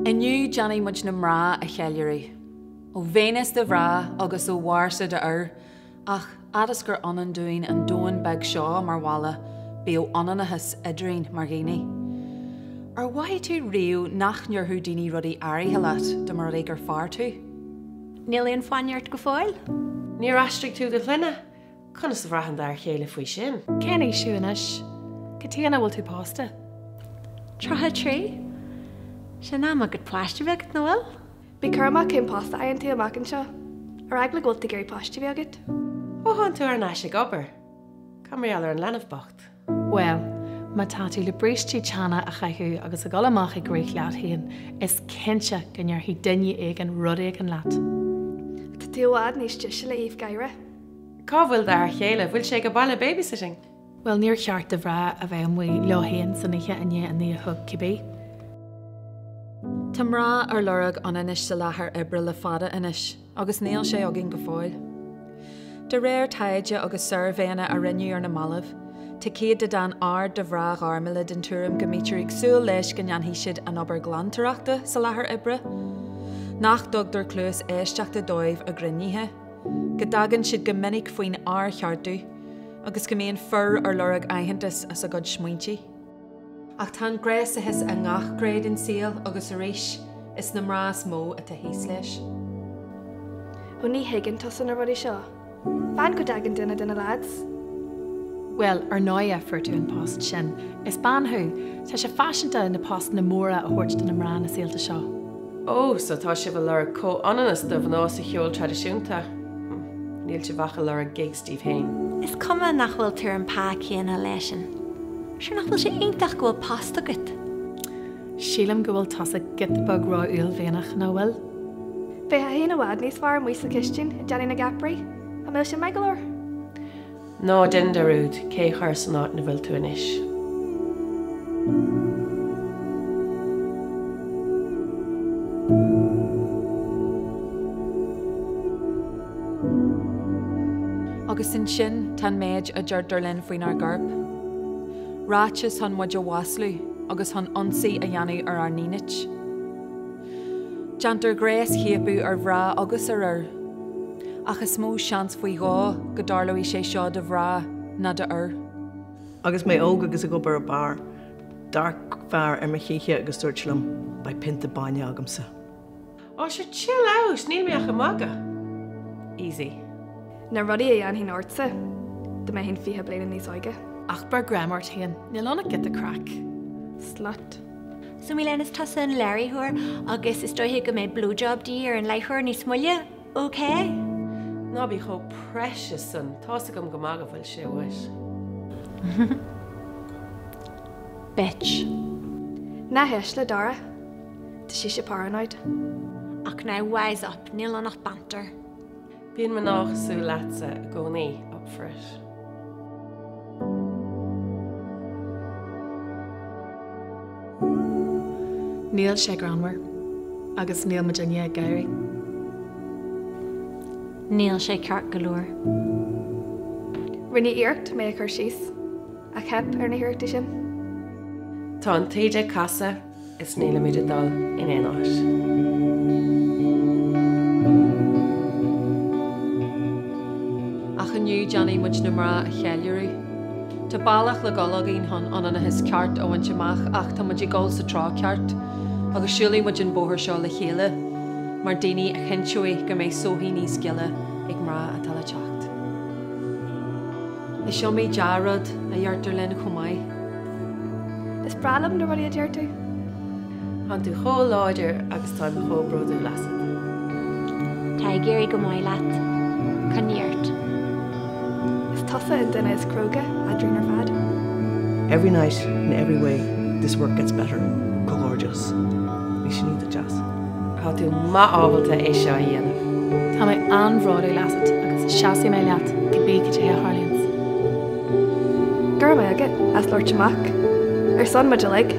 Inniu déanfaidh muid na mná a cheiliúradh. Ó Véineas do mhná agus ó Mharsa d'fhir, ach fhad is gur ionann dúinn an domhan beag seo mar bhaile, bíodh ionannachas eadrainn mar dhaoine. Ar mhothaigh tú riamh nach ndéarfadh daoine rudaí áirithe leat dá mba rud é gur fear tú? Níl aon fáinne ort go fóill? Níor aistrigh tú do shloinne? Conas a bhraitheann d'fhear chéile faoi sin? Cén aois thú anois? Cad chuige nach bhfuil tú pósta? Tríocha trí. Sé in am agat páiste bheith agat, nach bhfuil? Bí cúramach cén post a fhaigheann tú amach anseo? Ar eagla go bhfuil tú ag iarraidh páiste bheith agat? Ó tháinig tú thar n-ais ag obair, cad mar gheall ar an leanbh bocht? Bhuel, má tá tú le brístí teanna a chaitheamh agus a dhul amach ag rith leat féin, is cinnte go ndéarfaidh duine éigin rud éigin leat. Tá tú i bhfad níos deise le haoibh gháire. Cá bhfuil d'fhear chéile? Bhfuil sé ag baile babysitting? Bhuel, níor cheart do mhná a bheith amuigh leo féin san oíche i ndiaidh a naoi a chlog cibé. Tá mná ar lorg ionannais sa láthair oibre le fada anois. agus níl sé againn go fóill. De réir taighde agus suirbhéanna a rinneadh ar na mallaibh, tá céatadán ard de mhná ghairmiúla den tuairim go mbítear ag súil leis go ndéanfaidh siad an obair ghlantóireachta sa láthair oibre, nach dtugtar cluas éisteachta dóibh ag cruinnithe, go dtagann siad go minic faoin fhearcheartú agus go mbíonn fir ar lorg aitheantas as a gcuid smaointe. Ach tá an gnéasachas i ngach gné den saol agus arís is na mná is mó atá thíos leis. Ó ní thuigeann tusa na rudaí seo. Fan go dtagann duine de na lads. Bhuel, ar ndóighe fuair tú an post sin. Is bean thú. Tá sé faiseanta na postanna móra a thabhairt do na mná na saolta seo. Ó, so tá sibh ag lorg comhionannas do mhná sa cheol traidisiúnta? Níl sibh ach ag lorg gig daoibh féin. Is cuma nach bhfuil tú ar an pá céanna leisean, sure nach bhfuil sé iontach go bhfuil post agat? Sílim go bhfuil tusa giota beag ró-uaillmhianach, nach bhfuil? Bheifeá féin i bhfad níos fearr amuigh sa chistin, ag déanamh na gceapairí. An bhfuil sin maith go leor? Ná déan dearúd cé chuir san áit 'na bhfuil tú anois. Agus ansin tá an méid a deirtear linn faoinár gcorp. Ráitis chun muid a mhaslú agus chun ionsaí a dhéanamh ar ár ndínit. Déantar gnéaschiapadh ar mhná agus ar fhir. Ach is mó seans faoi dhó go dtarlóidh sé seo do mhná ná d'fhir. Agus mé óg agus ag obair i beár, d'amharc fear ar mo chíche agus dúirt liom, Beidh pionta bainne agamsa. Oh sure chill out, níl mé ach ag magadh. Easy. Na rudaí a dhéanfainn ortsa dá mbeinn fiche bliana níos óige. Ach beir greim ort féin, níl ann ach giota craic. Slut. So Mílena, is tusa an léiritheoir agus is dóigh go mbeidh blowjob de dhíth ar an léiritheoir níos moille, ok? Ná bí chomh precious sin, tá a fhios agam go maith go bhfuil sé uait. Bitch. Ná héist le Dara. Tá sise paranoid. Ach no, wise up, níl ann ach banter. Bíonn mná cosúil leatsa i gcónaí, up for it. Níl sé greannmhar agus níl muid in éineacht ag gáire. Níl sé ceart go leor. Rinneadh iarracht mé a chur síos, ach theip ar na hiarrachtaí sin. Tá an taoide ag casadh. is níl muid ag dul in aon áit. Ach inniu déanfaidh muid na mná a cheiliúradh. Tá bealach le dul againn chun ionannas ceart a bhaint amach ach tá muid ag dul sa treo ceart agus siúlfaidh muid an bóthar seo le chéile mar daoine a chinnteoidh go mbeidh sochaí níos gile ag mná atá le teacht. Is iomaí dea-rud a deirtear linn chomh maith. Is breá liom na rudaí a deir tú. Tá tú chomh láidir agus tá mé chomh bródúil asat. Tá ag éirí go maith leat. Coinnigh ort. Is tusa an duine is cróga eadrainn ar fad. Every night in every way this work gets better. Go gorgeous. Is iontach deas. Tá tú breá ábalta é seo a dhéanamh. Tá mé an-bhródúil asat agus seasfaidh mé leat cibé cad é a tharlaíonn. Go raibh maith agat as labhairt amach ar son muid uilig.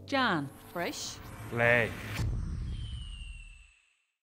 Dean, breis. Léigh.